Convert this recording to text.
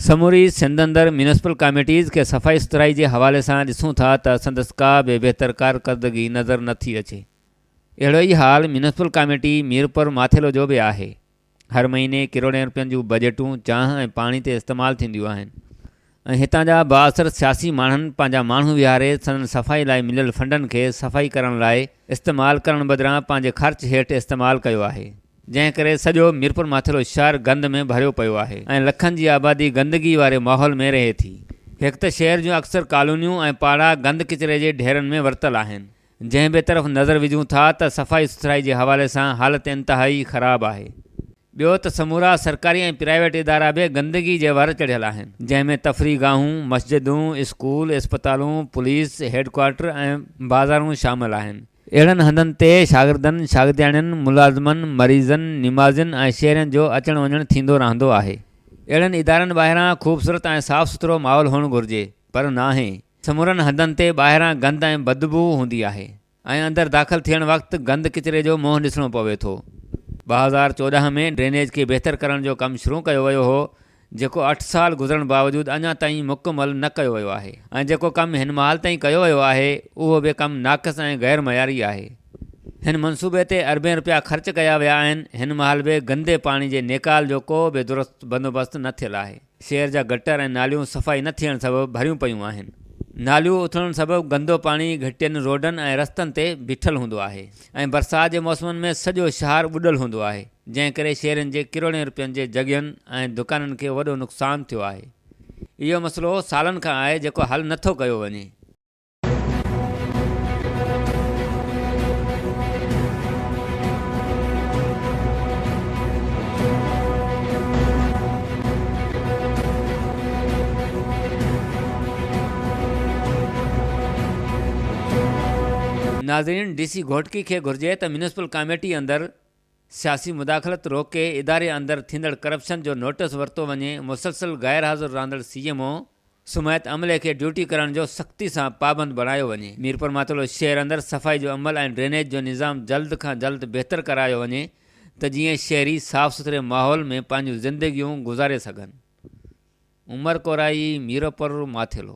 سموري سنڌ اندر municipal committees کي صفائي سٿرائي جي حوالي سان ڏسون ٿا ته سندس ڪا به بهتر ڪارڪردگي نظر نه ٿي اچي. اهڙو ئي حال ميونسپل ڪاميٽي ميرپور ماٿيلو جو به آهي. هر مهيني ڪروڙين رپين جون بجيٽون چانهه ۽ پاڻي تي استعمال ٿينديون آهن ۽ هتان جا بااثر سياسي ماڻهن پنهنجا ماڻهو ويهاري سندن صفائي لاء مليل فنڊن کي صفائي ڪرڻ لاء استعمال ڪرڻ بدران پنهنجي خرچ هيٺ استعمال ڪيو آهي. جنهن ڪري سڄو ميرپورماٿيرو شهر گند ۾ ڀريو پيو آهي ۽ لکن جي آبادي گندگي واري ماحول ۾ رهي ٿي. هڪ ته شهر جون اڪثر ڪالونيون ۽ پاڙا گند ڪچري جي ڍيرن ۾ ورتل آهن. جنهن به طرف نظر وجهون ٿا ته صفائي سٿرائي جي حوالي سان حالت انتهائي خراب آهي. ٻيو ته سمورا سرڪاري ۽ پرائيويٽ ادارا به گندگي جي ور چڙهيل آهن جنهن ۾ تفريح گاهون، مسجدون، اسڪول، اسپتالون، پوليس هيڊ ڪوارٽر ۽ بازارون شامل آهن. اهڙن هنڌن تي شاگردن، شاگردياڻين، ملازمن، مريضن، نمازين ۽ شهرين جو اچڻ وڃڻ ٿيندو رهندو آهي. اهڙن ادارن ٻاهران خوبصورت ۽ صاف سٿرو ماحول هئڻ گهرجي پر ناهي. سمورن هنڌن تي ٻاهران گند ۽ بدبوء هوندي آهي ۽ اندر داخل ٿيڻ وقت گند ڪچري جو منهن ڏسڻو پوي ٿو. ٻه هزار چوڏهن ۾ ڊرينيج کي بهتر ڪرڻ جو ڪم شروع ڪيو ويو هو جيڪو اٺ سال گذرڻ باوجود اڃا تائين مڪمل نه ڪيو ويو آهي ۽ جيڪو ڪم هن مهال تائين ڪيو ويو آهي اهو به ڪم ناقص ۽ غير معياري آهي. هن منصوبي تي اربين رپيا خرچ ڪيا ويا آهن، هن مهال به گندي پاڻي جي نيڪال جو ڪو به درست بندوبست نه ٿيل آهي، شهر جا گٽر ۽ ناليون صفائي نه ٿيڻ سبب ڀريون پيون آهن، ناليون اٿلڻ سبب گندو پاڻي گهٽين، روڊن ۽ رستن تي بيٺل هوندو آهي. ۽ برسات جي موسمن ۾ سڄو شهر ٻڏل هوندو آهي جنهن ڪري شهرين جي ڪروڙين رپين جي جڳهين ۽ دڪانن کي وڏو نقصان ٿيو آهي اهو مسئلو سالن کان آهي جيڪو حل نه ٿو ڪيو وڃي. ناظرين! ڊي سي گهوٽڪي کي گهرجي ته ميونسپل ڪاميٽي اندر سياسي مداخلت روڪي اداري اندر ٿيندڙ ڪرپشن جو نوٽس ورتو وڃي مسلسل غير حاضر رهندڙ سي ايم او سميت عملي کي ڊيوٽي ڪرڻ جو سختي سان پابند بڻايو وڃي ميرپورماتولو شهر اندر صفائي جو عمل ۽ ڊرينيج جو نظام جلد کان جلد بهتر ڪرايو وڃي ته جيئن شهري صاف سٿري ماحول ۾ پنهنجون زندگيون گذاري سگهن عمر ڪورائي ميرپورماٿيلو.